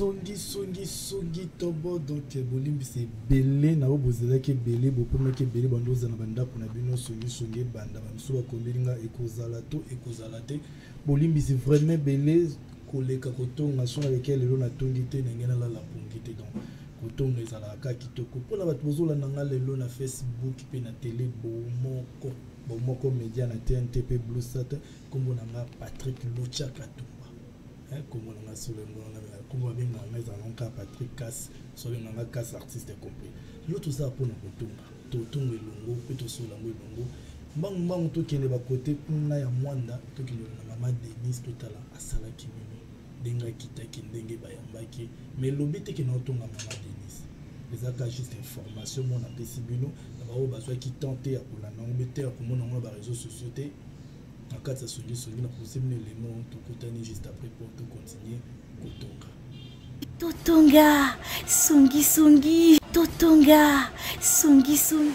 songi songi songi tobo donc eh, bolimbisa ebele na oyo bozelaki ebele bopemaki ebele bando ozala na bandako na bino songi songi ebanda bamisu bakomeli nga ekozala to ekozala te bolimbisi vraiment ebele koleka kotonga so nalekea lelo natongi te ndenge nalala pongi te donc kotonga ezalaka kaka kitoko mpo na bato bozolanda nga lelo na facebook mpe na tele bomoko bomoko media na tnt mpe blusat nkombo na nga patrick lucia katumba nkombo na nga solo nkombo na nga nkombo babenga nga ezala na nka patrick kas sobenga nga kas artiste complet yo tozala mpo na kotonga totonga elongo mpe tosola yango elongo mbangu mbangu tokende bakote kuna ya mwanda tokende na mama denise totala asalaki nini ndenge akitaki ndenge bayambaki ma elobi te kende otonga mama denise ezalaka juste information mona apesi bino na baoyo bazwaki temps te ya kolanda yango mpe te ya komona yango na bareseau sociaux te na kati ya songisongi na propose bino elemo tokutani juste après mpo tokontinue kotonga totonga songisongi totonga songisongi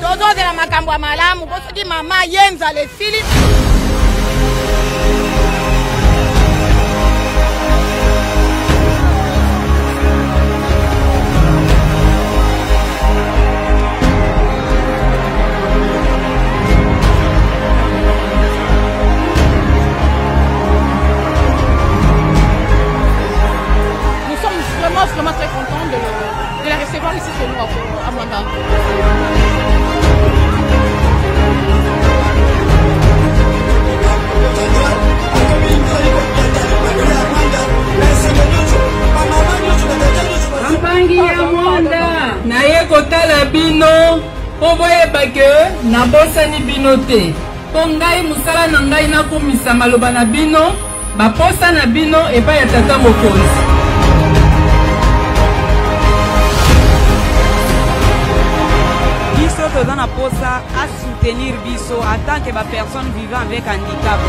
tozozela makambo ya malamu po soki mama ye nzala esili Mpangi ya mwanda naye kotala bino mpo boyeba ke nabosani bino te mpo ngai mosala na ngai nakumisa maloba na bino Baposa na bino epai ya tata mokonzi. toza na posa a soutenir biso en tant que ba personne vivant avec handicap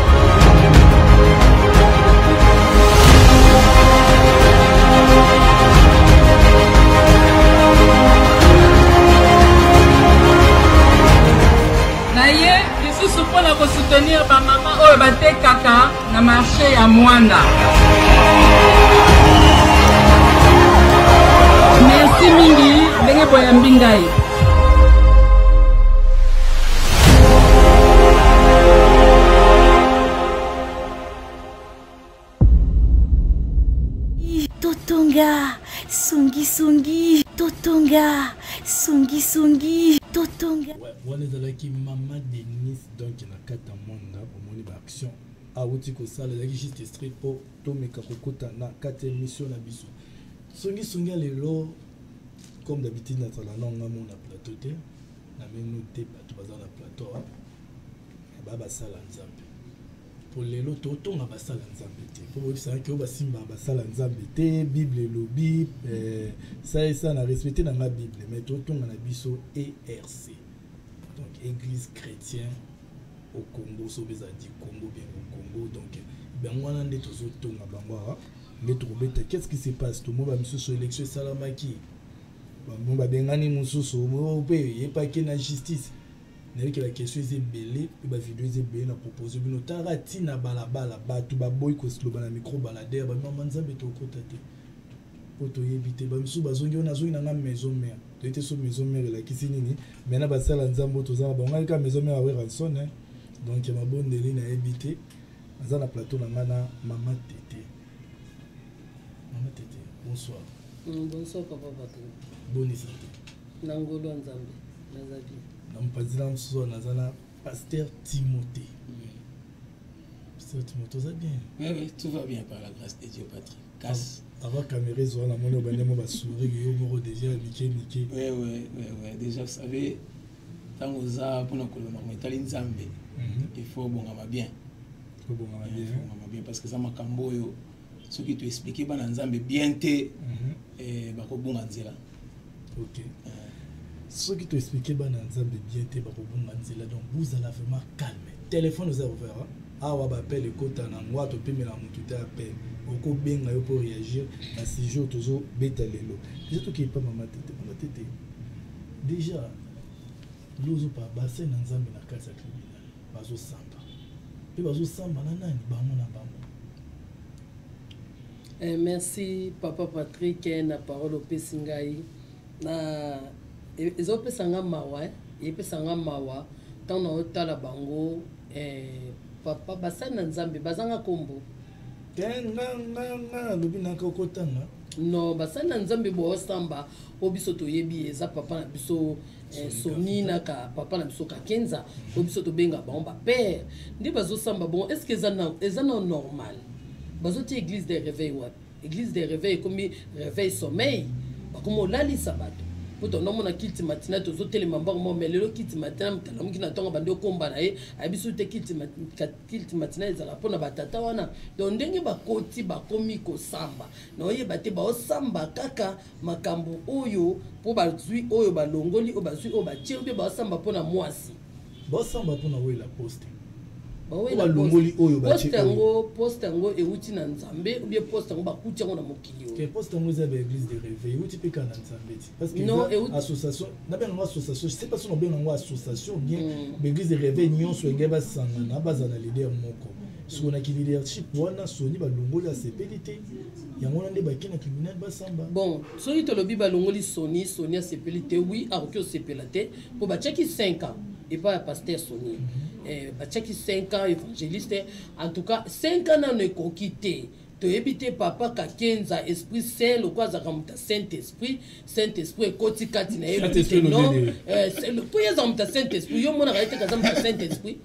Lisusu mpo na kosoutenir bamama oyo batekaka na marche ya Mwanda. Merci mingi ndenge boyambi ngai. totonga songisongi totonga songisongi totonga wana ezalaki mama denis donc na kati ya mwanga omoni baaction awuti kosala ezalaki juste street mpo tomeka kokota na kati ya émission na biso songisongi ya lelo comme d'habitude nazala na nga mona plateau te na meno te bato baza na plateau baya basala nzambe mpo lelo totonga basala nzambe te mpo boyebisaki oyo basimba basala nzambe te bible elobi eh, saesa na respecte na nga bible mai totonga na biso erc donc église chrétien au congo soki ezalaki congo bien au congo donc bango wana nde tozotonga bango awa nde tokobeta qu'est ce qui se passe tomoi bamisusu élection esalamaki bamoi babengani mosusu mpe eyepaki na justice nayebi ke baquestion eza ebele mpe bavideo eza ebele na propose bino talaka ntina balabala bato baboyi koloba na micro balader bamama nzambe tokota te mpo toyebi te bamisusu bazongi wana azongi na ngai maison mare toyebi te so maison mare elakisi nini mai na basala nzambe oyo toza na bango ngai kaka maison mare aweranson donc ya mabondeli nayebi te aza na plateau na ngai na mama tete mama tete bonsoir mm, bonsoir papa bato boni santé na ngolo ya nzambe na mopanzi na mosusu wana naza na pasteur timote pasteur timote oza bien oui, oui, tout va bien par la grâce de dieu patrie kasi avant caméra ezwa na moni obande mo basuri yo moko déjà ya mike mike oui, oui, oui, oui. déjà vous savez ntango oza mpona kolona ngo etali nzambe mhm. il faut obongama bien obongama bien obongama bien parce que eza makambo oyo soki toexplike bana nzambe bien te mhm. eh, bakobunga nzela ok soki to expliquer bana nzambe bien te bakobunga nzela donc bozala vraiment calme téléphone oza ouvert hein? awa bapele ekota na ngwa topemela motu te apele okobenga yo mpo réagir na sujet oyo tozobeta lelo eza toki epa mama tete mama tete déjà lozopa basai na nzambe na kati ya tribunal bazosamba mpe bazosamba na nani bango na bango Eh, merci papa Patrick eh, na parole opesi ngai na e, ezopesa nga mawa eh. epesa nga mawa ntango naotala bango eh, papa basali na nzambe bazanga nkombo te nga nga nga nalobi naka okotanga non basali na nzambe boosamba oyo biso toyebi eza papa na biso Eh, soni na ka papa na biso kakenza oyo biso tobenga bango bapere nde bazosamba bongo est ce que eza na normal bazotia église de réveil wapi église de réveil ekomi réveil sommeil bakomi olalisa bato mpo tondo omona kiti matina tozotelema mbango moko mai lelo kiti matina mokalamuki na ntongo bandi okomba na ye ayebiso te kiti matina ezala mpo na batata wana donc ndenge bakoti bakomi kosamba na oyeba te baosamba kaka makambo oyo mpo bazwi oyo balongoli oyo bazwi oyo batie mpe basamba mpo na mwasi basamba mpo na wela poste balongoli oyo poste yango poste yango euti na nzambe obie poste yango bakuti yango na mokili oyo poste yango eza baeglise de réveil euti mpe kaka na nzambe ti parce que association nabenga yango association se pas soki nabenga yango association bien mm. baeglise de réveil nyonso engai basangana bazala na leader moko sikoyo na ki leadership wana soni balongoli asepeli te yango wana nde bake na tribunal basamba bon soki tolobi balongoli soni soni asepeli te wi akoki osepela te mpo batiaki 5 ans epai ya paster soni mm -hmm. Eh, batiaki 5 ans évangéliste en tout cas 5 ans nano ekoki te toyebi te papa kakenza esprit saint lokola azalaka moto ya saint esprit saint esprit ekoti kati na ye mpo ye aza moto ya saint esprit yo omonaka ye te kaza moto ya saint esprit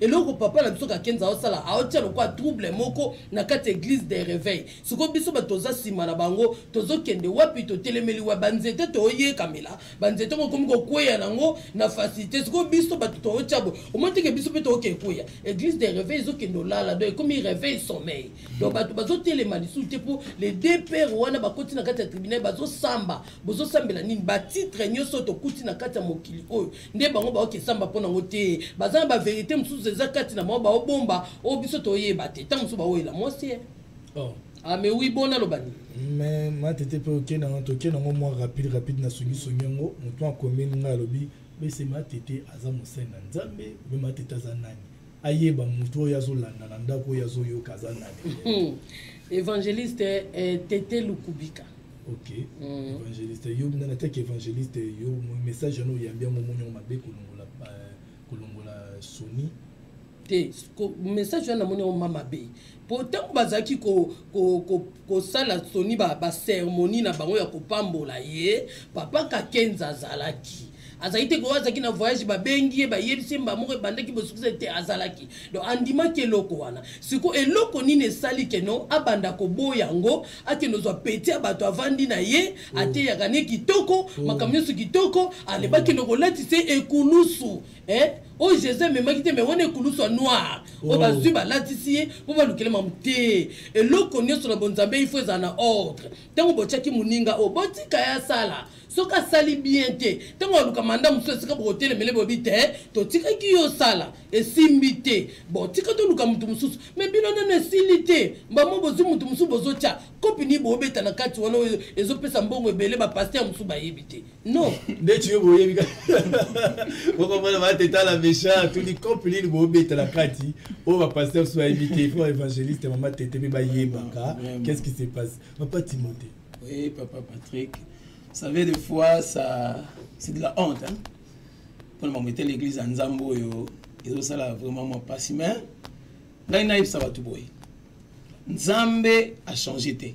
eloko papa na biso kakenza aosala aotya lokola trouble moko na kati ya eglise de reveil siko biso bato toza nsima na bango tozokende wapi totelemeli wa banzete toyekamela banzete ngo ekomi kokweya nango na facilité siko biso bato tootya bo omoteke biso mpe tooke ekweya eglise de reveil ezokende olala donc ekomi reveil sommeil donc bato bazotelema lisusu te mpo les deux père wana bakoti na kati ya tribunal bazosamba bozosambela nini batitre nyonso tokuti na kati ya mokili oyo nde bango baokesamba mpo nango te baza na baverité mosusu eza kati na bango baobomba oyo biso toyeba te ntango mosusu baoyela mwasi ye oh. ame ah, wi bona aloba nini mais matete mpe oke nango toke nango mwa rapide rapide na songisongi yango motu akomi ngai alobi bese matete aza mosali na nzambe obe matete aza nani ayeba mutu oyo azo landa na ndako oyo azo yoka aza nani hmm. evangeliste eh, tete lukubika ok mm. evangeliste yo na na teke evangeliste yo message yango oyambi yango omoni yango mabe kolongola eh, kolongola soni te message wana namoni yango ma mabe mpo ntango bazalaki kosala ko, ko, ko soni baceremonie ba na bango ya kopambola ye papa kakenza azalaki azalaki te koyo azalaki na voyage babengi ye bayebisi ye mba moko ebandaki bosukisa te azalaki donc andimaki eloko wana sikoyo eloko nini esali keno abanda koboya yango akende ozwa peti ya bato avandi na ye mm. ateyaka ne kitoko mm. makambo nyonso kitoko alebaki mm. nokolatisa ekulusu eh? oyo oh, jesus amemaki te me wana ekulusu ya noir oyo oh. bazwi balatisi ye mpo balukele mamu te eloko nyonso na bonzambe ifo ezala na ordre ntango botyaki moninga oyo oh, botika ye asala soki asali bien te ntango aluka manda mosusu esika bokotelemele bobi te eh, totikaki yo osala esimbi te bon tika toluka moto mosusu me bino nano esili te mbamo bozwi moto mosusu bozotya kopi nini bobeta na kati wana oyo ezopesa mbongo ebele bapaster mosusu bayebi te non nde tuyo boyebi bokomona batetala méchant tuni cope nini bobetela kati oyo bapasteur so bayebi te fo évangéliste mama tete mpe bayebaka qu'est ce qui se passe papa timothée oui papa patrick savez des fois ça c'est de la honte hein? mpona bango ete l'église ya nzambe oyo ezosala vraiment mwa mpasi mais ngai nayebisa bato boye nzambe achange te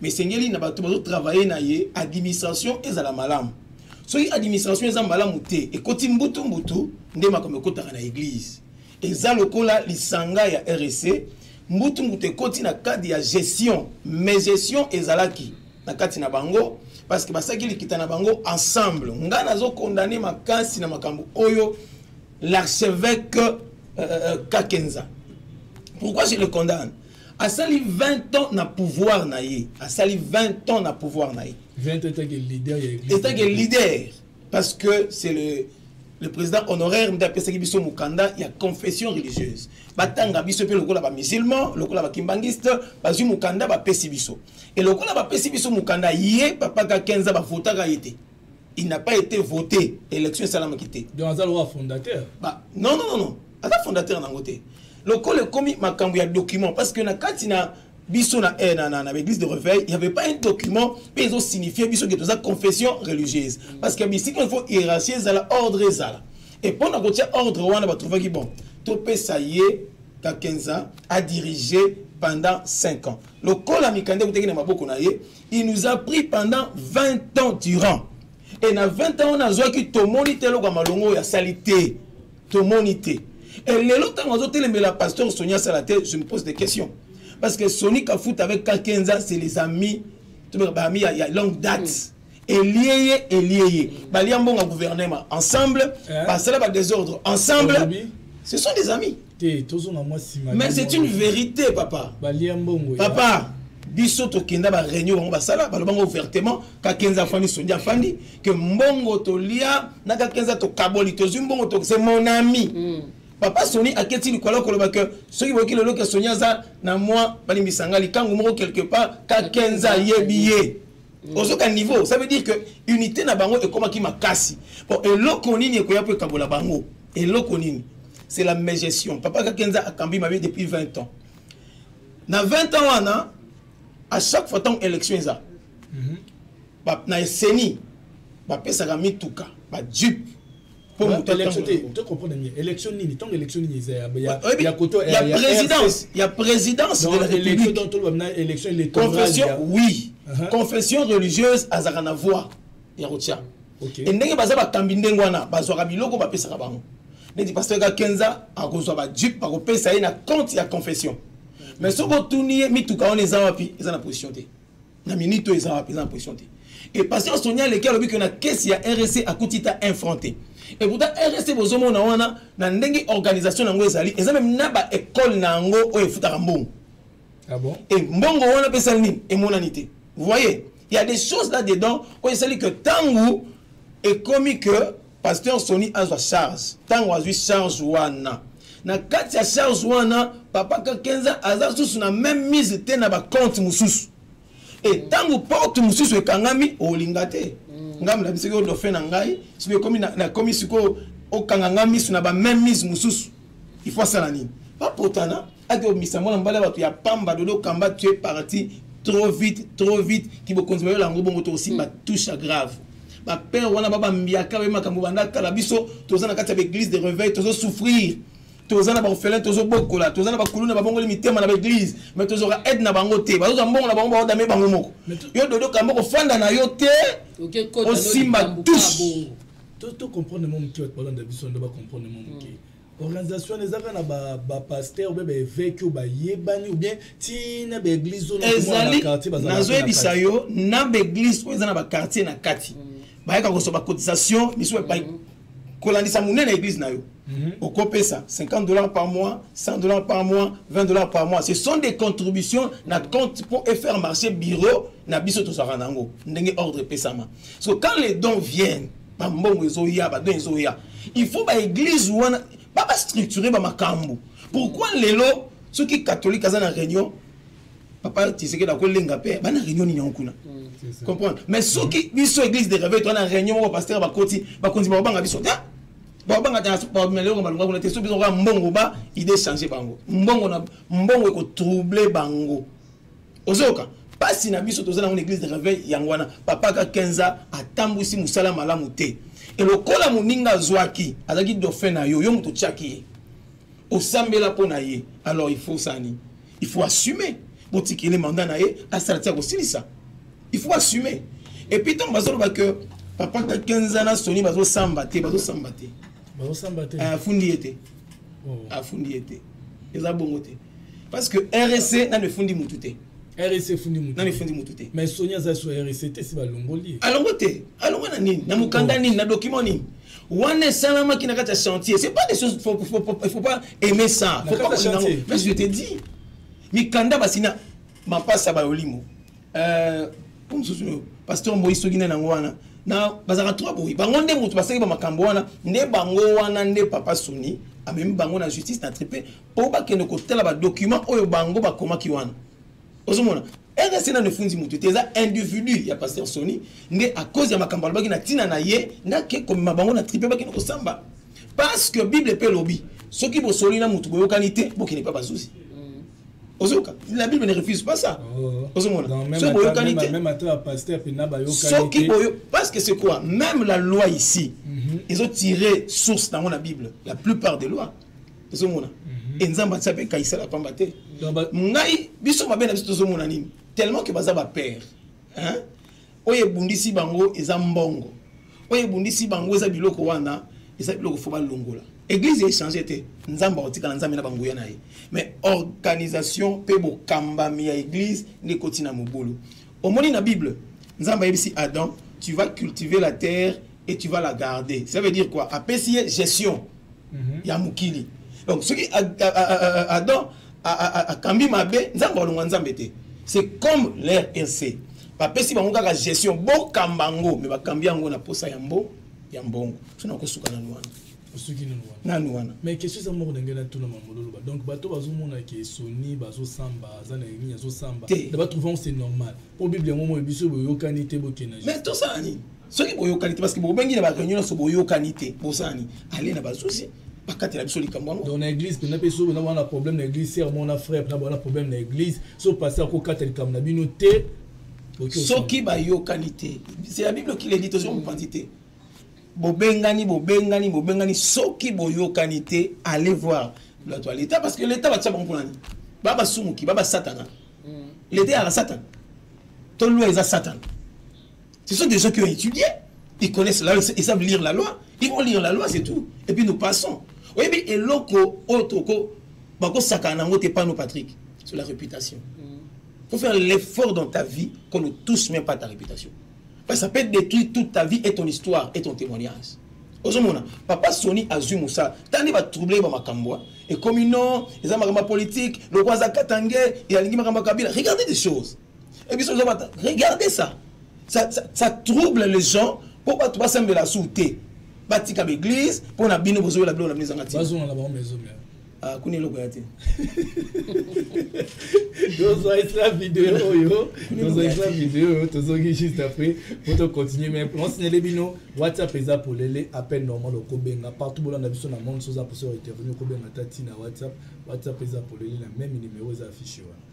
mais esengeli na bato bazo travailler na ye administration ezala malamu soki administration eza malamu te ekoti mbutu mbutu nde makambo ekotaka na eglise eza lokola lisanga ya rec mbutu mbutu ekoti na cadre ya gestion mais gestion ezalaki na kati na bango parce que basaki likita na bango ensemble ngai nazokondane makasi na makambo oyo l'archevêque euh, euh, euh, kakenza pourquoi je le condamne asali 20 ans na pouvoir na ye asali 20 ans na pouvoir na ye etake leader parce que c'est le le président honoraire nde apesaki biso mokanda ya confession religieuse batanga biso mpe lokola bamusulman lokola bakimbangiste bazwi mokanda bapesi biso e lokola bapesi biso mokanda ye papa kakenza bavotaka ye te il n'a pas été voté élection esalamaki te donc aza lokola fondateur ba non non non aza fondateur nango te lokola ekomi makambo ya document parce que na kati na biso na eh, na, na, na église de réveil il y avait pas un document mpe ezo signifie biso ke toza confession religieuse parce que bisika il faut hiérarchie ezala ordre ezala et mpo na kotia ordre wana batrouvaki bon topesa ye kakenza adirige pendant 5 ans lokola mikanda ekutaki na maboko na ye il nous a pris pendant 20 ans durant et na 20 ans wana azwaki tomoni te eloko ya malonga oyo asali te tomoni te e lelo ntango azotelemela pasteur soni asala te je me pose des questions parce que soni kafuta avec kakenza c'est les amis baami ya, ya longue date mm. elie ye elie ye balia mbongo ya gouvernement ensemble eh? basala badésordre ensemble ce sont des amis te tozonga mwa nsima mais c'est une vérité papa balia mbongo papa biso tokenda bareunion bango basala balobango ouvertement kakenza afandi sondi afandi ke mbongo tolia na kakenza tokaboli tozwi mbongo tokse mon ami mm. papa soni aketi likolo koloba ke soki boyoki lelo ke soni aza na mwa balimbisa ngai likangu moko quelque part kakenza ayebi ye mm. ozoka niveau ça veut dire que unité na bango ekomaki makasi po eloko nini ekoya mpo ekabola bango eloko nini c'est la mégestion papa kakenza akambi mabe depuis 20 ans na 20 ans wana à chaque fois ntango élection eza mm -hmm. na eseni bapesaka mituka bajupe mpo moto élection nini ntango élection nini eza ya koto ya présidence ya présidence de la république confession oui uh-huh. confession religieuse azalaka na voix ya kotya okay. e ndenge baza bakambi ndenge wana bazwaka biloko bapesaka bango neti pasteur ka kenza akozwa bajupe bakopesa ye na compte ya confession mais soki otuni ye mituka wana eza wapi eza na position te na minute oyo eza wapi eza na position te e pasteur sonia aleki alobi ke na kesi ya rc akuti ta infran te e pourtant rc bozomona wana na ndenge organisation na yango ezali eza meme na baekole na yango oyo efutaka mbongo ah bon? et mbongo wana mpe esali nini emonani te vous voyez il y a des choses là dedans oyo esali que ntango ekomi que pasteur soni azwa charge ntango azwi charge wana na kati ya charge wana papa kakenza aza susu na même mise te na bacompte mosusu e ntango porte mosusu ekangami olinga te mm. ngai molabisi oyo dofe na ngai soki ekomi nakomi sikoyo okanga ngai miso na bameme mise mosusu il faut asala nini bapotana ake omisa mwana mobali ya bato ya pamba dodo kamba tu es parti trop vite trop vite kibokonzi bayola yango bongo tokosimba mm. touche grave bapere wana babambiaka baye makambo banda kala biso toza na kati ya baeglise de reveil tozosouffrir toza na baorphelin tozobokola toza na bakuluna babongoli mitema na baeglise mais tozoka aide na bango te bazozwa mbongo na bango baodame bango moko yo dodo kamba okofanda na yo te osimba touche to comprendre mo moke bato balanda biso nde bacomprendre mo moke mm. organisation wana ezalaka na bapasteur ba obe baeveke oyo bayebani ou bien ti na baeglise oyo ezali nazoyebisa yo na baeglise oyo eza na baquartier na kati mm. bayaka koswa bacotisation misusu epai mm. kolandisa monene ya eglise na yo mm-hmm. okopesa 50 dollars par mois 100 dollars par mois 20 dollars par mois ce sont des contributions na compte pour faire marcher bureau na biso tozwaka na yango ndenge ordre epesama so quand les dons viennent ba mbongo ezoya ba bien ezoya il faut ba église wana ba ba structurer ba makambo pourquoi lelo soki catholique aza na réunion papa tisekeda kolenga mpe bana réunion nini yango kuna mm, comprendre mais soki biso église de réveil toana réunion moko pasteur bakoti bakonzi bakobanga biso te bakobanga te bameloko balonga kuna te soki biso koya mbongo ba idée change bango mbongo na mbongo ekotrouble bango ozoyoka pasi na biso toza nango na église de réveil yango wana papa ka 15 ans atambwisi mosala malamu te e lokola moninga azwaki azalaki dauphin na yo yo moto otyaki ye osambela mpo na ye alors il faut sani il faut assumer botikele manda na ye asala ti akosilisa il faut assumer et puis ntango bazoloba que papa ka 15 ans na soni bazosamba te bazosamba te eh, afundi ye te oh. afundi ye te eza bongo te parce que RSC nanu efundi mutu te RSC efundi mutu nanu efundi mutu te mais Sonia aza sur RSC te si balongoli alongo te alongo na nini na mukanda nini na document nini wana esalamaki na kati ya chantier c'est pas des choses faut, faut, faut, faut pas aimer ça faut pas mais je te dis mikanda basina mapasa bayolimo euh, po mosusu oyo pasteur moyi soki nani yango wana na bazalaka trois boye bango nde moto basali ba makambo wana nde bango wana nde papa soni amemi bango na justice na tripe mpo bakende kotala badocument oyo bango bakomaki wana ozomona rdc nano efundi moto te eza individu ya pasteur soni nde a cause ya makambo alobaki na ntina na ye ndake komema bango na tripe bakende kosamba parce que bible mpe elobi soki bosoli na moto boyokani te bokende mpe bazuzi ozoyoka la bible ne refuse pas ça oh. ozomona soki boyokani te soki boyo parce que c'est quoi même la loi ici mhm. ezo tire source nango na bible la plupart des lois ozomona mhm. e nzambe atia mpe ekayisela pamba te ngai biso mabe na biso tozomona nini tellement que baza bapère oyo ebundisi bango eza mbongo oyo ebundisi bango eza biloko wana eza biloko fo balongola église echange te nzambe akotikala nzambe na banguya na ye mais organisation mpe bokambami ya église nde ekoti na mobulu omoni na bible nzambe ayebisi adam tu vas cultiver la terre et tu vas la garder ça veut dire quoi apesi ye gestion mhm. ya mokili donc soki adam akambi mabe nzambe alongwa nzambe te c'est comme l'rnc bapesi bango kaka gestion bokamba yango me bakambi yango na posa ya mbo ya mbongo so nakosuka na nwana osuki nanu wana nanu wana mais question eza moko ndenge natuna mambololoba donc bato bazomona ke soni bazosamba aza na nini azosamba na batrouve yango c'est normal mpo bible yango moi biso boyokani te bokenda mais tosala nini soki boyokani te parce que bobengi na bareunion nyonso boyokani te bosani ale na bazuzi bakatela biso likambo yango donc na église mpenza mpe soki boza na problème na église ser mona frère mpenza boza na problème na église so pasteur akokata likambo na bino te soki bayokani te c'est la bible qui le dit tozo mopanzi te bobengani bobengani bobengani soki boyokani te allez voir bato ya leta parce que leta batya bango mpo nani babasumuki babasatana mm. leta yaka satana to loi eza satana Ce sont des gens qui ont étudié, ils connaissent la loi, ils savent lire la loi, ils vont lire la loi, c'est tout. Et puis nous passons. Oui, mais et loco, otoko, bako sakana, ngote pano Patrick, sur la réputation. Il mm. faut faire l'effort dans ta vie qu'on ne touche même pas ta réputation. Parce que ça peut détruire toute ta vie et ton histoire et ton témoignage. ozomona papa soni azwi mosala ntango nde batrouble ye bamakambo ekomi non eza makambo ya politike lokola aza katange alingi makambo ya kabila regardez des choses Et puis, regardez ça. Ça, ça. ça trouble les gens pour pas tout passer de la souté. Batika l'église, pour la bino, vous avez la blonde, la maison. Vas-y, on a la bonne maison. Ah, kuni eloko ya te tozwaisla video oyo tozwaisla video oyo tozoki juste après po tocontinue mai onsinele bino whatsapp eza polele appel normal okobenga partout bolanda biso na monde soza poso ya intervenu okobenga ta ntina whatsapp whatsapp eza polele na meme numero eza affiche wana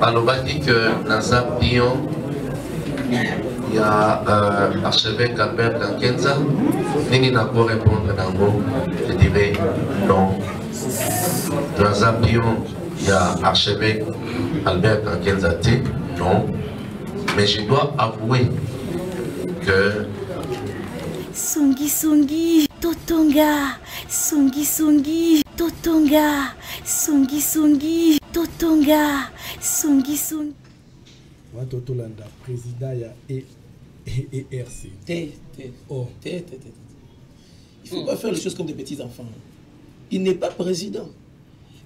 balobaki que naza pion ya euh, archevêque Albert Kankenza nini na ko répondre nango je dirais non naza pion ya archevêque Albert Kankenza te non mais je dois avouer que songi songi totonga songi songi totonga songi songi totonga songi songi wato tolanda président ya e, e, ERC te te oh te te te il faut pas faire les choses comme des petits enfants il n'est pas président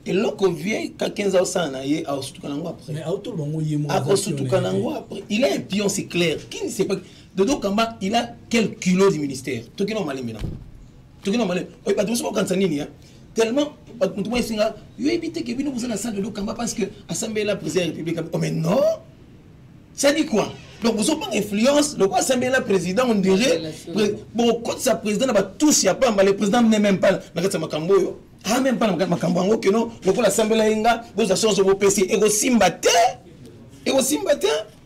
eloko vie kakenza osala na ye akosutuka nango après akosutuka nango après il a un pion c'est clair qui ne sait pas dodo kamba il a quel culot du ministère tokino malembe nango tokino malembe oyo bato mosusu bakokanisa nini tellement mutu mwa esinga yo yebi te ke bino boza na salle de lokamba parce que asambela président ya république oh mais non ça dit quoi donc bozobanga influence lokola asambela président on dirait bokotisa président na batouche ya pamba le président ne même pas na kati ya makambo oyo a même pas na makambo yango keno lokola asambela ye nga bozwa chance bopesi ekosimba te ekosimba te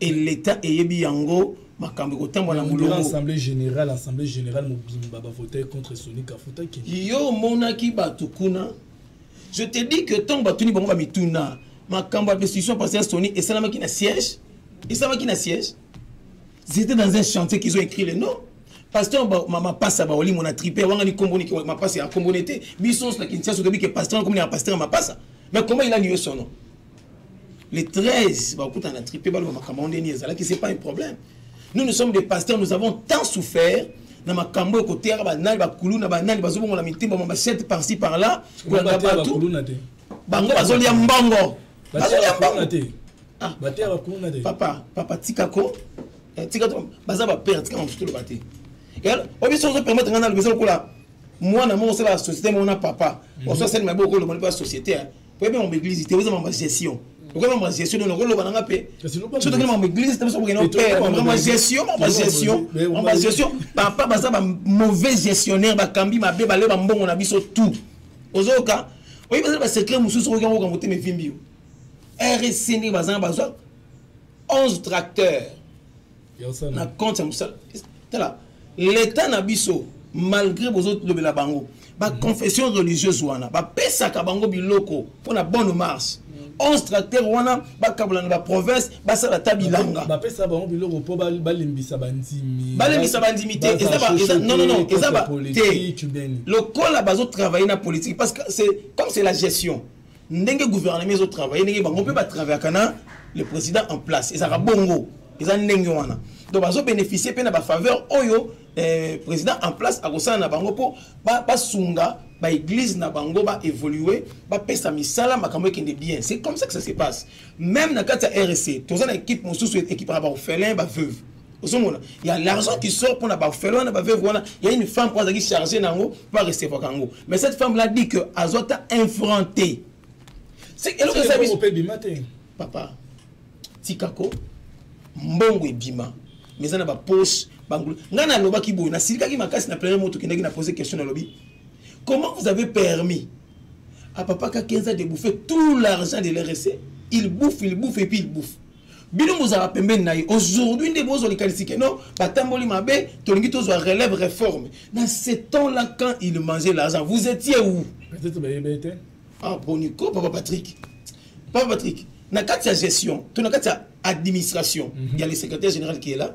et l'Etat eyebi yango makambo ekotambwa na molongo assemblée générale assemblée générale mobimba bavotaki contre soni kafuta kende yo omonaki bato kuna je te dis que ntango batuni bango bamituna makambo ya destruction passé ya soni esalamaki na siège esalamaki na siège zete dans un chantier qu'ils ont écrit le nom pasteur mapasa baoli mona tripe wangani komboni mapasa ya komboni te biso na kinsiasa toyebi ke pasteur akomi na pasteur ya mapasa mais comment il a niyo son nom les 13 bakuta na tripe baloba makambo yango ndeni ezalaki c'est pas un problème nous nous sommes des pasteurs nous avons tant souffert na makambo ekoteyaka banani bakuluna banani bazobongola mitimba ma bachete parci par là kolanda bato bango bazolia mbongo bazolia mbongo te ah. bateya bakuluna te papa papa tikako eh, tika baza bapere tika mamosusu toloba te obiso ozopermettre ngai naloba eza lokola mwana moko osala société moko na papa mhm. oso asali mabe okolobani mpe ya société oyebi makambo eglise te oza makambo gestion okoki makambo ya gestion donc okoloba nanga mpe soki toki makambo eglise te biso bokende opere makambo ya gestion makambo ya gestion makambo ya gestion papa baza ba mauvais gestionnaire bakambi mabe bale bambongo na biso tout ozoyoka oyebi bazali basecret mosusu okoki yango okambo te mevimbi yo rsc ndenge bazanga bazwa 11 tracteur na compte ya mosala tala leta na biso malgré bozolobela bango baconfession religieuse wana bapesaka bango biloko mpo na bonne marche 11 tracteur wana bakabola na baprovince basala ata bilanga bapesa bango biloko mpo balembisa bandimi balembisa bandimi te nonono eza te lokola bazotravaille na politique parce que c'est comme c'est la gestion ndenge gouvernement ezo travailler ndenge bango mpe batravaillaka na le président en place ezalaka bongo eza ndenge wana donc bazo bénéficier mpe na bafaveur oyo eh, président en place akosala na bango mpo basunga baeglise na bango baévolue bapesa misala makambo ekende bien c'est comme ça que ça se passe même na kati ya rc toza na équipe mosusu ekipaka baorphelin baveuve ozomona ya l'argent qui sort mpona bafele wana baveve wana ya une femme mpo azalaki charge na yango mpo arecevraka yango mais cette femme là dit que azwa ata un franc te eloko eza biso papa tikako mbongo ebima mais eza na bapoche bangulu ngai nalobaki boye nasilikaki makasi na premier moto okendaki na pose question nalobi comment vous avez permis à papa kakenza de bouffer tout l'argent de l'RSC il bouffe il bouffe et puis il bouffe bino bozala pembeni na ye aujourd'hui nde bozwa likanisi ke non batamboli mabe tolingi tozwa relève réforme dans ce temps là quand il mangeait l'argent vous étiez où peut-être bayebe te ah boniko papa patrick papa patrick na kati ya gestion to na kati ya administration mm -hmm. ya le secrétaire général qui est là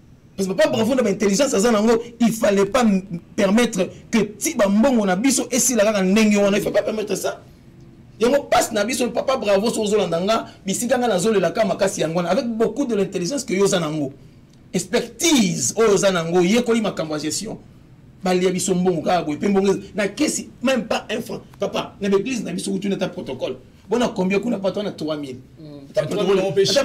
parce que papa bravo na baintelligence aza nango il fallait pas permettre que ti bambongo na biso esila kaka ndenge wana il faut pas permettre ça yango mpasi na biso papa bravo so ozolanda nga bisika nga nazolelaka makasi yango wana avec beaucoup de l'intelligence que yo oza nango expertise oyo oza nango oyekoli makambo ya gestion balia biso mbongo kaka boye mpe mbongo na kesi même pas un franc papa na baeglise na biso kutu nata protocole bona combien kuna patwa na 3000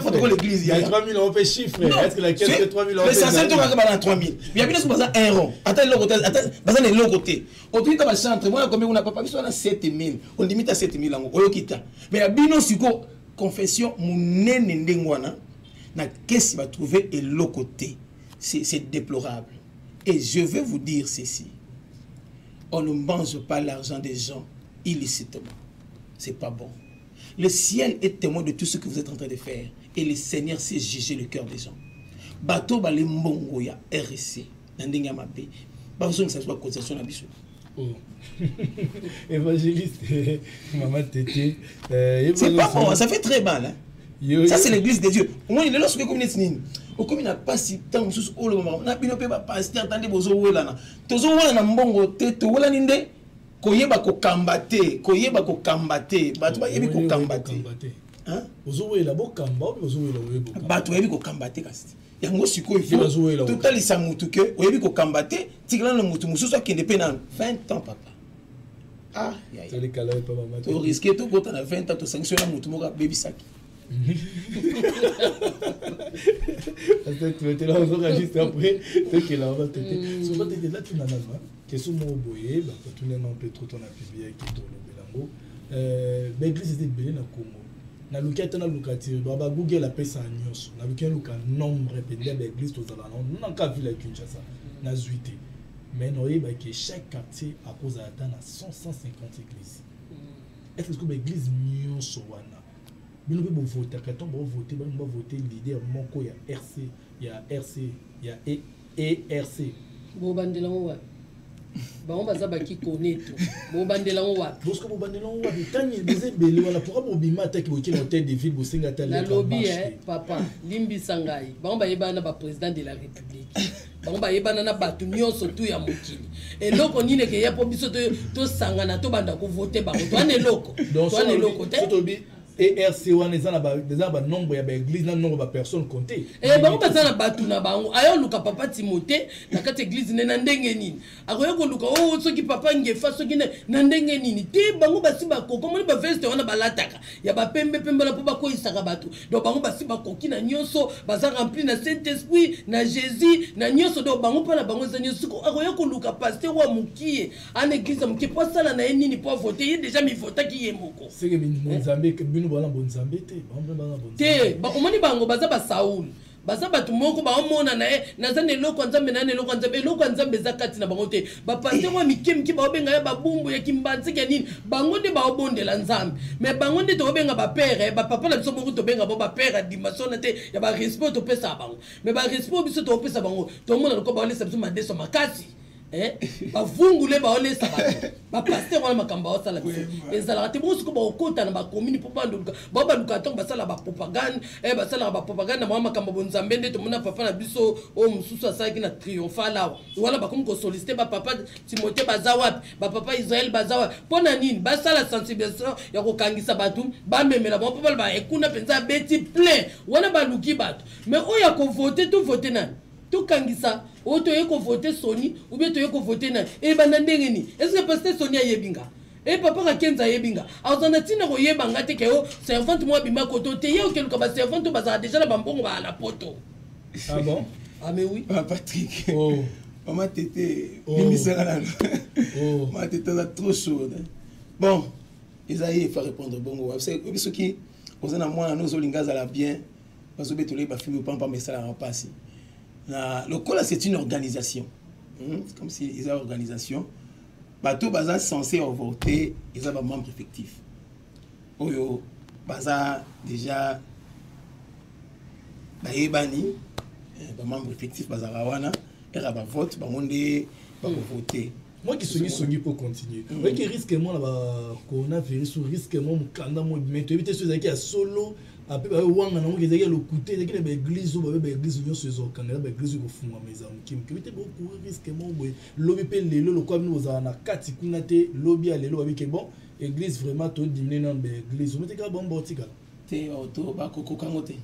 protocole église ya 3000 on peut chiffre est-ce que la caisse de 3000 on peut ça c'est toka bana 3000 ya bino baza un rond ata eloko te ata baza na eloko te otuki ta ba centre mwana combien kuna papa biso na 7000 on limite à 7000 yango oyoki ta mais ya bino siko confession munene ndenge wana na kesi ba trouver eloko te c'est c'est déplorable et je veux vous dire ceci on ne mange pas l'argent des gens illicitement. C'est pas bon. Le ciel est témoin de tout ce que vous êtes en train de faire. Et le Seigneur sait juger le cœur des gens. Bato bale mbongo ya RSC na ndenge ya mabe. Bazongisa biso bacotisation na biso. Oh. Évangéliste, maman Tété. Euh, c'est pas bon, ça fait très mal. Hein? Yo, ça, c'est l'église de Dieu. Au moins, il est là, ce que vous venez de okomi na mpasi ntango mosusu olobamaka na bino mpe bapaster ta nde bozowelana tozowelana mbongo te towelani nde koyeba kokamba te koyeba kokamba te bato bayebi kokamba te ozowela bokamba oyo ozowela oyebi kokamba bato bayebi kokamba te kasi yango sikoyo totalisa motu ke oyebi kokamba te tikala na motu mosusu akende mpe nano 20 ans papa ah, toriske tokota na 20 ans tosangisi na motu moko abebisaki Attends, tu vas te la revoir juste après. T'es qu'elle a, on va te dire. Souvent, t'es là, tu m'as Question moko boye bakotuna non mpe trop tona publie yaki tolobela yango euh, baeglise eza ebele na congo naluki ata naluka te bagoogle apesa nyonso naluki naluka nombre mpenza ya baeglise tozala na nanka ville ya kinshasa nazwi te mais naoyebaki chaque quartier akozala ata na 150 église est ce que baeglise nyonso wana bino mpe bovotaka ntango bavote bango bavote leader moko ya rc ya rc ya erc e bobandela ngo wapi bango baza bakikonetu bobandela ngo wapi bosko bobandela ngo wapi ntango eza ebele wana pourka bobima ataki boke na hotel de ville bosenga ata nalobi e papa limbisa ngai bango bayebana na baprésident de la république bango bayebana na bato nyonso tu ya mokili eloko nini ekeya mpo biso tosangana tobanda kovote bango toana eloko toana eloko te erc wana eza na banombre ya baeglise na nombre bapersone compte eh, bango baza na bato na bango aya oluka papa timote na kati eglise nde na ndenge nini akoya koluka o oh, soki papa ngefa soki na ndenge nini te bango basi bakoki omoni baveste wana balataka ya bapembepembe wana mpo bakoyisaka bato donc bango basi bakoki na nyonso baza rempli na saint esprit na jésus na nyonso donc bango mpo na bango eza nyonso akoya koluka paster wa mokie ana eglise ya moke mpo asala na ye nini mpo avote ye deja mivotaki ye moko seke bonzambe bino bana bonzambe te te omoni bango baza basaul baza bato moko baomona na ye naza na eloko ya nzambe na na eloko ya nzambe eloko ya nzambe eza kati na bango te bapaster oyo mike mike baobenga ya babumbu ya kimbanziki ya nini bango nde baobondela nzambe me bango nde tokobenga bapere bapapa na biso moko tobenga bango bapere dimasona te ya barespect topesaka bango me barespect biso tokopesa bango tomona lokola baolesa biso madeso makasi Eh, bavungule baolesa bato bapaster wana makambo baosala biso ezalaka te bongo sikoyo baokota na bakomini mpo baluka bao baluka ntango basala bapropagande eh, basalaka bapropagande na mwa makambo bonzambe nde tomona papa na biso oyo mosusu asalaki na triomphal awa wana bakomi kosolicite bapapa timote baza wapi bapapa israel baza wapi mpo na nini basala sensibilisation ya kokangisa bato bamemela bango mpo baloba ekuna eh, mpenza abeti plein wana baluki bato mais oyo ya kovote to vote nani tokangisa oyo oh, toye kovote soni ubie toye kovote na ebanda eh, ndenge nini eske paster soni ayebi nga e papa kakenza ayebi nga aza na ntina koyeba nga te ke o oh, servante moko abima koto te ye okeluka baservante oyo bazala deja na bambongo baa na poto ah bon ah mais oui ah, patrick oh. mama tete oh. bimisaka nano oh. mama tete aza trop sourde bon eza ye efa répondre bongo oyebi soki oza na mwana no ozolinga azala bien bazobetola ye bafimbo mpamba mpamba esalaka mpasi na lokola c'est une organisation hmm? comme si eza organisation bato baza censé revote eza bamembre effectif oyo baza déjà bayebani eh, bamembre effectif bazalaka wana eka bavote bango nde bakovote mm. moi qui songi songi mpo continue mm. oyoki risque mwa na ba coronavirus risque mwa mokanda mwa ebima toyebi te so ezalaki ya solo ape baye wanga nango ezalaki ya lokuta ezalaki na baeglise oyo babe baeglise nyonso ezokangela baeglise ekofungwama eza moke moke bite bokuri risque moko boye lobi mpe lelo lokola bino bozala na kati kuna te lobi ya lelo babike bon église vraiment todimine nano baeglise ometeka bango baotikala te oh, to bakokoka ngo te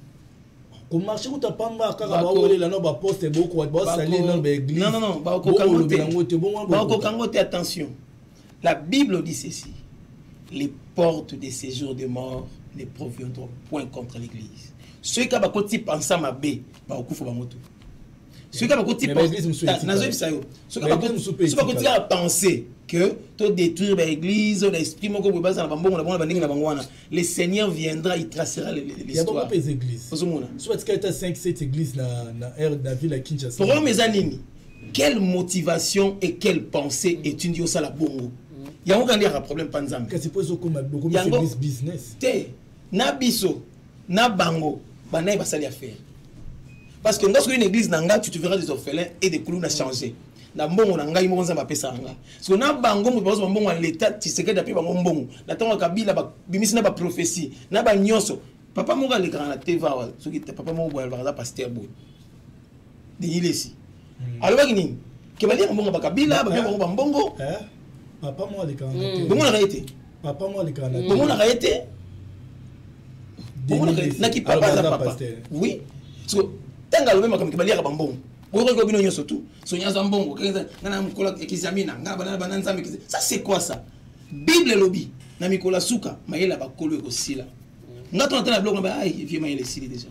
komarche kuta pamba kaka bawelela no baposte bosali no baegliseyango te bakokoka ngo te attention la bible dit ceci les portes de séjour de mort ne proviendront point contre l'église soki kaka bakoti pansa mabe bakokufa bango tout soki kaka bakotipazoyebisa yo soki bakotika bapense que to détruire baeglise na esprit moko boye bazala bambongo na bango na bandenge na bango wana le seigneur viendra il tracera l'histoireozomona problème eza nini quelle motivation et quelle pensée etindi osala bongo yango kandiyaka problème mpa nzambe yango te na biso na bango banaye basali affaire parce que nga soki une église na nga tu te verras des orphelins et des kuluna changer na mbongo na ngai moko nzambe apesaka nga siko na bango moto bakozwa mbongo ya leta tisekedi ape bango mbongo na ntango ya kabila babimisi na baprophesie na banyonso papa moko alekaka na tv awa soki papa moko boye alobaka aza paster boye denis lesi hmm. alobaki nini ke balie bango mbongo bakabila babia bango bambongo papa mwa alekaka hmm. bomonaka ye te papa mwa alekaka hmm. bomonaka ye te bomonaka ye naki papa aza papa oui so ntango alobi makambo ke baliaka bambongo bokoki bino nyonso tu soki aza mbongo nga na mokolo ekizamina nga bana bana nzambe ça c'est quoi ça bible elobi na mikolo ya suka mayele ya bakolo ekosila nga tona tala biloko na ba ai vie mayele esili déjà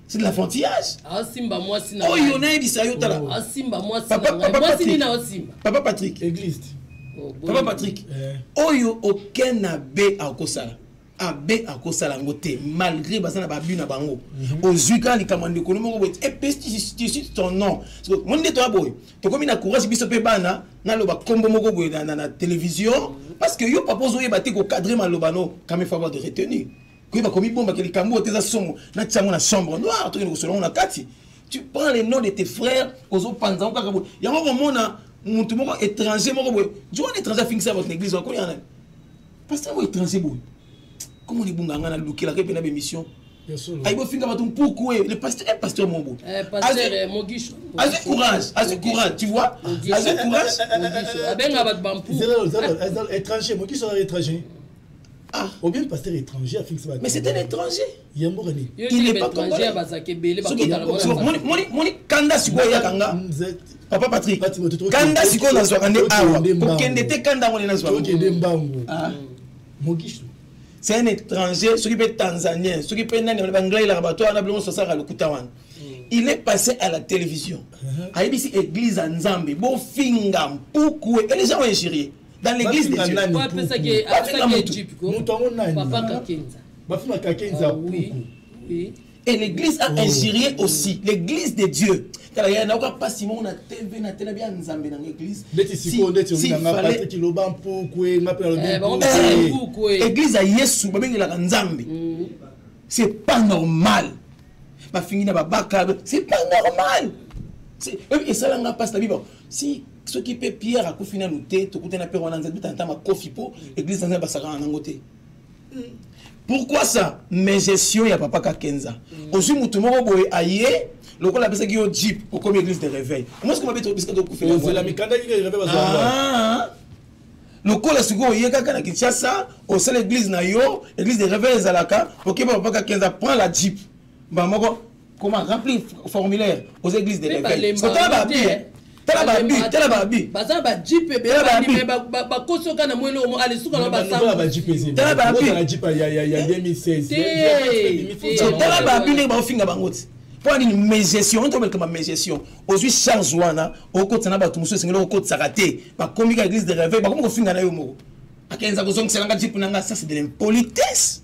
c'est de l'enfantillage asimba mwasi na oyo nayebisa yo tala oh. asimba mwasi na ngai mwasi nini aosimba papa patrick eglise oh, papa patrick eh. oyo aucun abe akosala abe akosala yango te malgré baza na babu na bango mhm. ozwi kaka likambo ya ndeko moko boye epesi ton nom moni nde toya boye tokomi na courage biso mpe bana naloba nkombo moko boye na télévision mhm. parce que yo papa ozoyeba te kokadre maloba no kame favo de retenue koyeba komibombaka likambo oyo te eza somo natya yango na chambre noire tokende kosola yango na kati tu prends le nom de tes frères ozopanza yango kaka boye yango komona motu moko étranger moko boye jo wana étranger afingisa bato na église wakoya nani pasteur yango étranger boye komona ebunga ngai nalukelaka mpe na bémission ayi bofinga bato mpuku e le pasteur e pasteur moko boye eh, eh, azwi courage azwi courage tu vois azwi courage abenga bato bampuku étranger mokiso na étranger Ah. Ou bien pasteur étranger a fixé Mais c'est un étranger. Il n'est pas congolais. Moni kanda sikoyo ya kanga. Papa Patrick. Kanda sikoyo na zwaka nde awa. Kokende te kanda ngone na zwaka. Kokende mbangu. Ah. Mogisho. C'est un étranger, soki pe tanzanien, soki pe nani ba anglais la bato wana bilongo sosaka lokuta wana. Hmm. Il est passé à la télévision. Uh-huh. Ayebisi église à Nzambe, bo finga mpuku et les gens ont injurié. dans l'église de Dieu nani apesa ke apesa ke chip ko mutu yango nani papa kakenza bafinga kakenza ah oui oui et l'église a oh. injurié aussi l'église de Dieu tala ya nayoka mpasi moko na tv na tela bya nzambe nanga église ndeti sikoyo ndeti olinganga patiki loba mpukue nga mpe nalobi église ya yesu babengelaka nzambe mm. c'est pas normal bafingi na babaka c'est pas normal esalanga mpasi na bibo si soki mpe pierre akufi nanu te tokutana mpe wana nzambe tanta makofi mpo eglise nzambe basakana nango te pourquoi ça mais gestion ya papa kakenza mm. ozwi motu moko boye aye lokola apesaki yo jeep okomi église de réveil omosi koma bete obisika tokufela mikanda kika réveil bazaa lokola sikoyo oye kaka na kinshasa osala église na yo église de réveil ezalaka okeba papa kakenza prend la jeep mbala moko comment remplir formulaire aux églises de l'éveil sotala babi eh. tala babi tala babi baza na bajipe ebele bakosoka na moi eloko alisuka na basatala babi tala babi ndenge baofinga bango ti mpo ya nini megestion oyo tobeleka bamegestion ozwi charge wana okotisa na bato mosusu esengeli okotisaka te bakomi ka église de réveil bakomi kofinga na yo moko akenza kozongisela nga jipe na nga ça c'est de l'impolitesse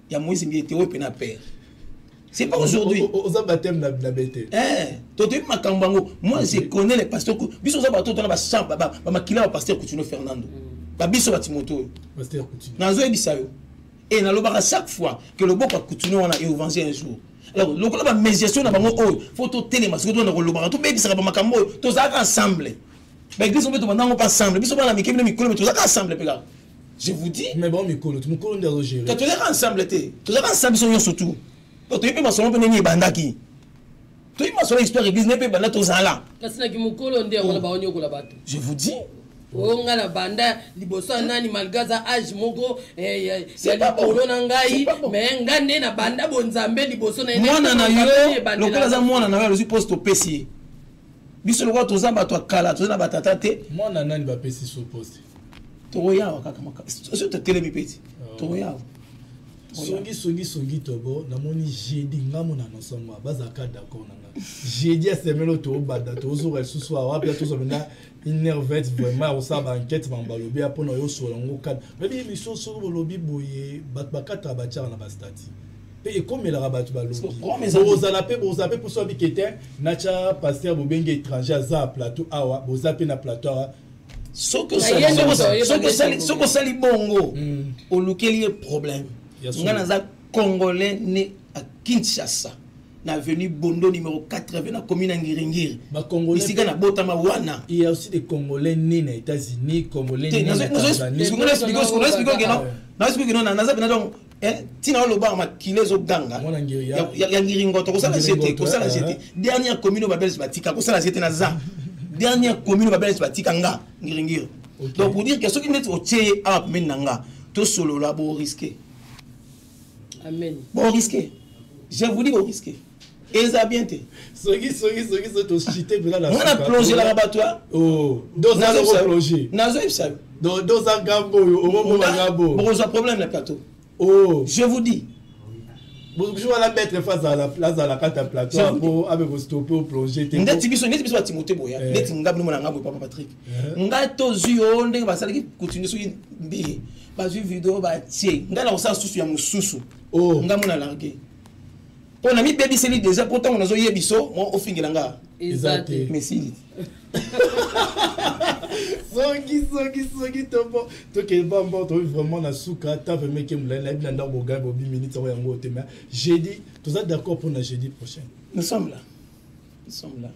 ya moise mbiye te oyo mpe na père c'est pas aujourd'hui oza baptême na bete eh, totoyebi makambo yango moi je connais les pasteur biso oza bato tona bamakila bapasteur coutinio fernando mm. babiso batimoto oyo nazoyebisa yo e nalobaka chaque fois que loboko ya coutinio wana eovange un jour alors lokola bamédiation na bango oyo fo totelema soki tona kolobaka tobebisaka bamakambo oyo tozalaka ensemble baeglise mpe tobandango mpe ensemble biso bana mike bino mikolo mpe tozalaka ensemble mpe kaka je vous dis mais bon mikolo tu mukolo ndio gérer que toleka ensemble te toleka ensemble biso nyonso tout to toyebi masolo mpe ndenge ebandaki toyebi masolo histoire église ndenge mpe ebanda tozala kasi na kimokolo nde yango na oh. baonyokola bato je vous dis oyo oh, nga na banda liboso ya nani malgre aza age moko eh, ya likolo na ngai me nga nde na banda bonzambe liboso na mwana na yo lokola aza mwana na yo alozwi poste opesi ye biso lokola toza bato ya kala toza na batata te mwana nani bapesi so poste tokoyawa kaka soki totelemi peti oh. tokoyawa songi songi songi tobo namoni jeudi nga mona nosomba bazalaka d'accord na nga jeudi asemelo tobanda tozoka lisusu awa wapi tozwa mpenza inervete vraiment akosala baenquete bango balobi ya mpona yosola yango kani oyebi émission soki bolobi boye bato bakataka batyaka na bastati mpe ekomelaka bato balobozala mpe bozala mpe mposo abike te natya paster bobenge étranger aza plateau awa boza mpe na plateau awa soki osali bongo hmm. olukeli ye problème ngai naza congolais ne à kinshasa na avenue bondo numéro 80 na commune ya ngiringiri bisika nabotama wana il y a aussi des congolais nés na états-unis congolais nés na tanzanie nazospikokeno naza pena donc Eh, ntina olobaka makila ezoganga ya ngiringoto kosala je te kosala je te dernière commune babelge batika kosala je te naza dernière commune babelge batika nga ngiringiri donc pour dire que soki ndeti otie awa pembeni na nga tosolola boriske boriske je vous dis boriske eza bien te soki soki soki soki toshite mpena na mwana plongelaka bato ya oh, dozaoplonge nazoyebisa yo doza gambo oyo omomoma gambo bokozwa problème na plateau oh. je vous dis wana bête fa azala kati ya plateau yango abe kostope oplonge te ndeti biso ndeti biso batimote boya eh. ndeti ngai bino mona ngai boye papa patrick eh. ngai tozwi yo ndenge basalaki kutini soki mbiye bazwi video batie ngai na kosala susu ya mosusu oh. ngai mona largue mpo na mibebiseli deja mpo ntango nazoye biso mo ofingela nga eza te mesili soki soki soki tobo tokende bambo tobi vraiment na suka ata vraimen ke molai nayebi na ndako bogai bobi minute yango yango te mais jeudi toza d'accord mpo na jeudi prochain nous sommes là Ils sont là.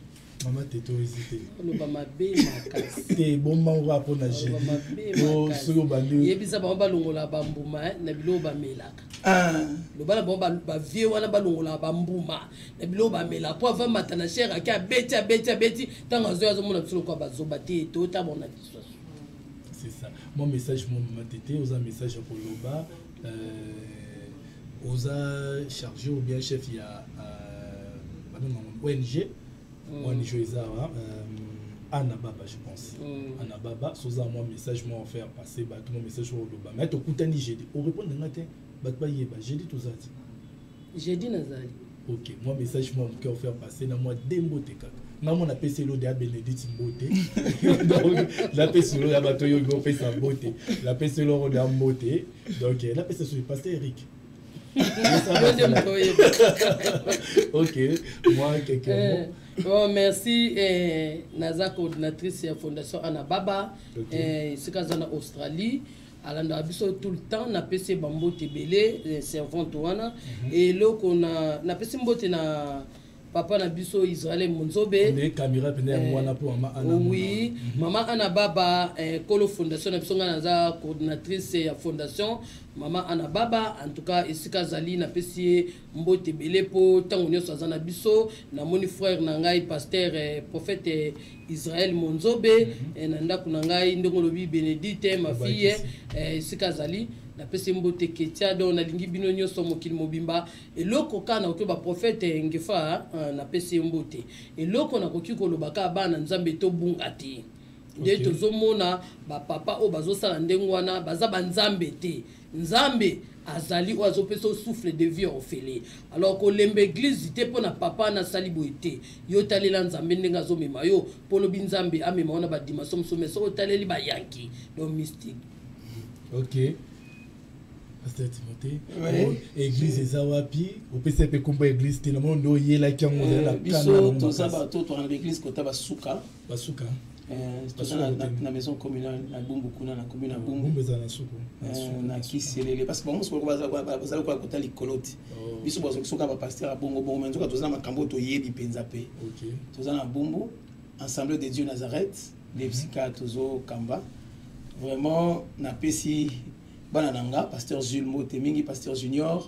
mama tete oyo ezi te oloba mabe makasi te ebomba ngo kaka mpo na soki obandiyebisa bango balongola bambuma eh, na biloko bamelaka ah. loba na bango bavie wana balongola bambuma na biloko bamelaka mpo ava mata na shere ake abeti abeti abeti ntango azoi azomona biso lokola bazoba te totamona dissuasion c'est ça mon message mon mama tete oza message ya koloba euh, oza chargé ou bien chef ya euh, babenga ONG mm. ONG eza wa euh, ana baba je pense mm. ana baba soza mwa message mwa faire passer bato mwa message mwa oloba mai tokutani jeudi orépondre nga te bato bayeba jeudi toza ti jeudi nazali ok mwa message mwa moke ofaire passe na mwa de mbote kaka nga mwana apesi elode ya benedite mbote napesi elode ya bato oyo opesa mbote napesi elode ya mbote donc eh, napesa soki passe eric ok moi quelques eh, mots bon merci eh, naza coordinatrice ya fondation anababa esika eh, aza na australie alandaka biso tout le temps napesi ye bambote ebele eh, servante wana mhm. eloko na napesi mbote na papa na biso israel monzobe eh, oui mhm. mama ana baba eh, kolo fondation na biso ngai naza coordinatrice ya fondation mama ana baba en tout cas esika azali napesi ye mbote ebele mpo ntango nyonso aza na biso namoni frère na ngai paster eh, prophète eh, israel monzobe mm -hmm. eh, na ndako na ngai ndenge olobi benedite eh, mafille eh, esika azali napesi mbote ketia donc nalingi bino nyonso mokili mobimba eloko kaka nakoki baprofete ngefa ah, napesi ye mbote eloko nakoki koloba kaka bana nzambe tobunga te nde okay. tozomona bapapa oyo bazosala ndenge wana baza banzambe te Nzambe azali oyo azopesa o souffle de vie ofele alors kolemba eglise te mpo na papa na asali boye te yo talela nzambe ndenge azomema yo mpo lobi nzambe amema yo na badimension mosusu me soki otaleli bayanki donc mystique ok pasteur timothée ouais. Oh, église eza wapi opesa mpe nkombo ya église te na mono nde oyelaki yango ozali na eh, biso toza bato tokanga baeglise kota basuka basuka eh, na maison communale na bumbu kuna na commune ya bumbu ezala na suku eh, na kiselele parce que bango mosuku bazali koya kota likolo te oh. biso bazokisoka bapaster ya bongo bongo me nzoka toza na makambo oyo toyebi mpenza mpe toza na bumbu ensemble de dieu nazareth nde mhm. bisika tozokamba vraiment napesi bana na nga pasteur zul mbote mingi pasteur junior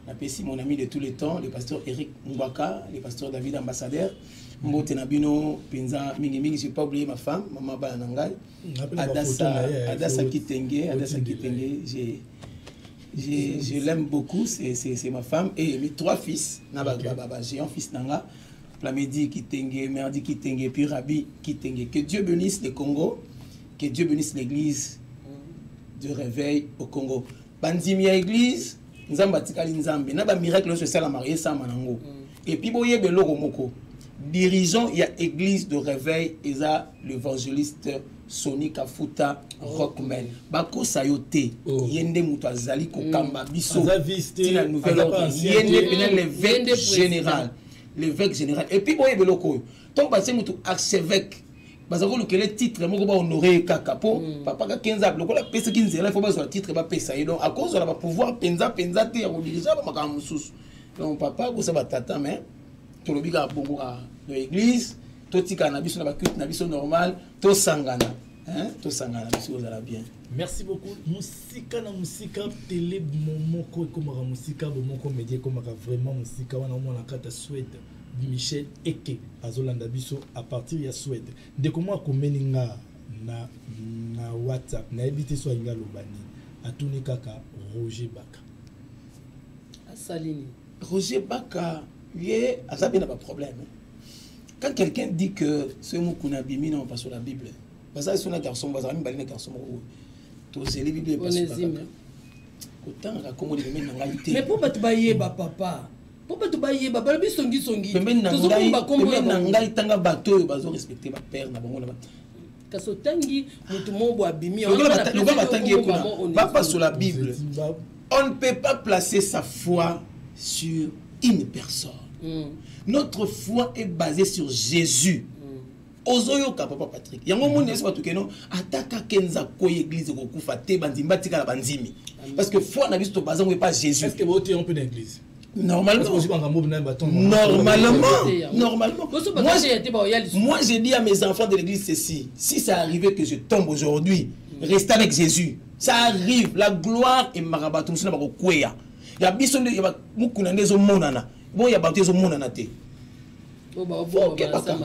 napesi mon ami de tous les temps le pasteur eric ngwaka le pasteur david ambassadeur mbote na bino mpenza mingimingi je pas oublier ma femme mama bana na ngai adasa eh, kitenge adasa kitenge j'ai je, je l'aime beaucoup, c'est ma femme et mes trois fils, okay. j'ai un fils Nanga, Plamedi Kitenge, Merdi Kitenge, puis Rabi Kitenge. Que Dieu bénisse le Congo, que Dieu bénisse l'église de réveil au Congo. bandimi ya eglise nzambe atikali nzambe na bamiracle nyonso esalamaka esama nango mm. epuis boyeba eloko moko dirigeant ya église de réveil eza l'évangéliste soni kafuta rockman bakosa yo te oh. ye nde moto azali kokamba mm. biso ntina nouvelle ordre ye nde pena l'évêque général l'évêque général epuis boyeba eloko oyo ntango batie motu archevêque baza kolukele titre moko bahonore ye kaka mpo mm. papa kakenza lokola apesaki nzela ifo bazwa titre bapesa ye donc akozwa na bapouvoir mpenza mpenza te ya kodirige bamakambo mosusu donc papa akosa batata mais tolobi kaka bongo kaka na église totikala na biso na baculte na biso normal tosangana tosangana biso kozala bien merci beaucoup mosika na mosika tele momoko ekomaka mosika bomoko media ekomaka vraiment mosika wana omona kata swede Di Michel Eke azolanda biso à partir ya Suède. Ndeko mwa akomeli nga na, na WhatsApp nayebi te so alingi aloba nini, atuni kaka Roger Baka asali nini? Roger Baka ye aza mpe na baproblème hein. quand quelqu'un dit que soki mokuna abimi na mopaso la bible bazali so na garçon moko bazalaka mibale na garçon moko oyo tozeli bible epasukaka kotangaka nkombo libemeli na ngai te mais mpo bato bayeba papa mpo bato bayeba balobi songisongi pembeni na ngai pembeni na ngai tanga bato oyo bazo respecte bapere na bango na bato kasi otangi motu moko bo abimi lokola batangi ye kuna bapasola bible on ne peut pas placer sa foi sur une personne mm. notre foi est basée sur jésus ozoyoka papa patrik yango omoni yesu bato keno ata kaka enza akwei eglize ekokufa te bandimi batikala bandimi parce que foi na biso tobaza ngo epa jésus Normalement, normalement, normalement. Moi, je, moi, j'ai dit à mes enfants de l'église ceci. Si ça arrivait que je tombe aujourd'hui, mm. restez avec Jésus. Ça arrive. La gloire est marabatou. C'est n'importe quoi. Il y a bison de, il y a beaucoup de gens qui sont monana. Bon, il y a beaucoup de gens qui sont monana. okebaka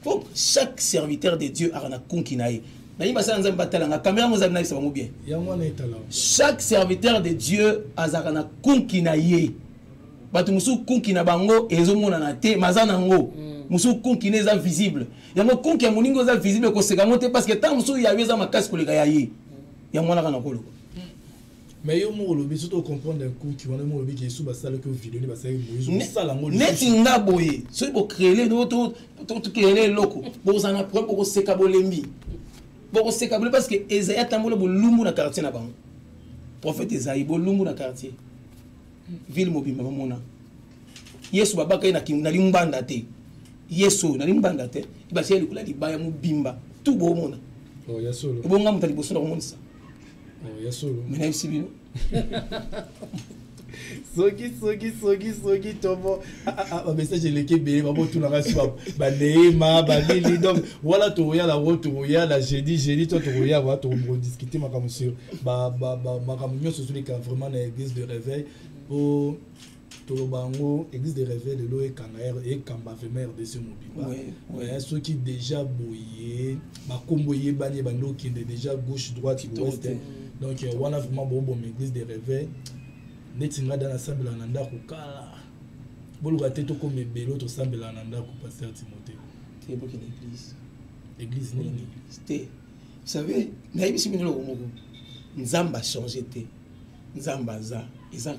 po chaque serviteur de dieu aka na konki na ye nayebi basala nzambe batalanga kamera yango ezali nayebisa bango bien chaque serviteur de dieu azalaka na konki na ye bato mosusu konki na bango ezomonana te maza na yango mm. mosusu konki na eza visible yango konki ya moninga eza visible ekoseka yango te parce que ntango mosusu ya yo eza makasi koleka ya ye yango wana kaka nakoloba mais yo moko olobi soki tocomprendre nkuki wana moko olobi kesu basalaki yo video nde basalaki moise osala ngo neti nga boye soki bocreele tocreele eloko bozala na problème bokoseka bolembi bokoseka bolembi parce que ezali atambola bolumbu na quartier na bango prophète ezali bolumbu na quartier ville mobimba bamona yesu babaka ye na limbanda te yesu na limbanda te ebasi ye likolo ya libaya mobimba tu bomona oh, ebonga moto ya liboso na komonisa mais nayebisi bino soki soki soki soki tomo ah, ah, ah, bamessage eleki ebele babotunaka si baneema banini donc wana tokoya nango tokoya na jeudi jeudi to tokoya wa tokodiscute makambo sur makambo nyonso ezoleka vraiment na église de réveil po toloba yango église de réveil lelo ekanga ekamba vraiment rdc mobimba mais soki déjà boye bakombo eyebani ebandi okende déjà gauche droite ouest donc wana vraiment booboma église de réveil neti ngai da nasambela na ndako kala boluka te tokoma ebele tosambela na ndako paster timote église nini te vous savez nayebisi bino eloko moko nzambe achange te nzambe aza eza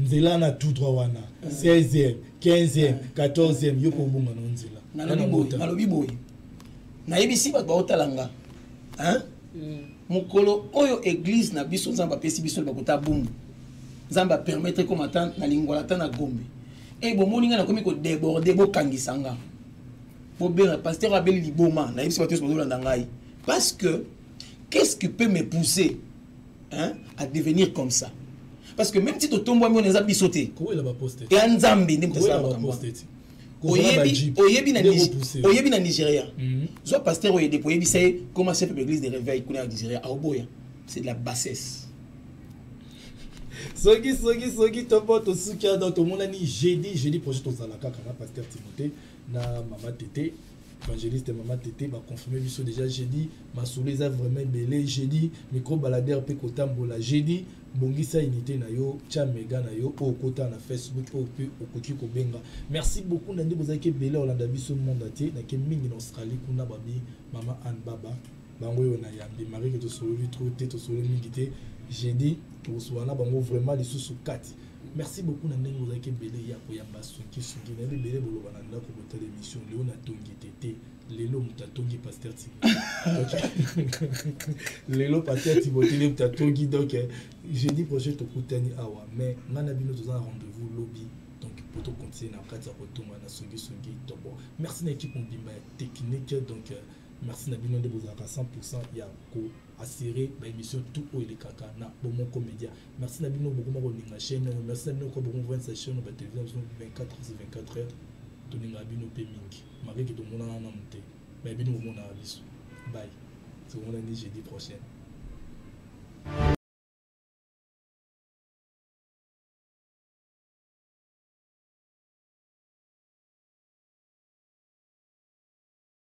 nzela na tout droit wana 16e 15e 14e yo mpe obonga na nzela nalobi boye nayebisi bato baotala nga mm. mokolo oyo eglize na biso nzambe apesi biso bakota bumbu nzambe apermettre ekoma ta na lingwala ta na gombe e bomoni ngai nakomi kodeborde bokangisa nga bobenga pasteur abeli liboma nayebisi bato nyonso bazolanda ngai parce que qu'est ce qui peut me pousser hein, à devenir comme ça parce que même si totombwami wana eza biso te ya nzambe nde moto asala makambo oyebi na nigeria mhm. zwa paster oyo edepo oyebisa ye koma chef de l'église de réveil kuna ya nigeria aoboya c'est de la bassesse soki soki soki topo tosuki ado tomonani jeudi jeudi projet tozala kaka na paster timothée na mama tete evangeliste mama tete baconfirme biso déjà jeudi masolo eza vraiment ebele jeudi micro balader mpe kotambola jeudi bongisa unité na yo tya mega na yo oyo okota na facebook oyo mpe okoki kobenga merci beaucoup na nde bozalaki ebele olanda biso monde atie nake mingi na australie kuna babi mama anne baba bango oyo nayambi marike tosololi trop te tosololi mingi te jeudi tokosuka na bango vraiment lisusu kati merci beaucoup na ndenge ozalaki ebele ya koyamba sonkisoki nayebi ebele boloba na ndako kotala émission leo natongi te te lelo moto atongi paster tibo lelo paster tibo te moto atongi donc eh, jeudi prochain tokutani awa mais ngai na bino toza na rendez-vous lobi donc po tocontinue na kati ya kotonga na songisongi tobo merci na équipe mobimba ya technique donc eh, merci na bino nde bozalaka 100 ya ko assurer ba émission tout oyo elekaka na bomoko média merci na bino bokoma kolinga chaîne oyo merci na bino ko bokoma kovenisa chaîne ba télévision 24 sur 24 heures tolingaka bino mpe mingi malgré ke tomonana nanu te mais bino bomonaka biso bay tomonani jeudi prochaine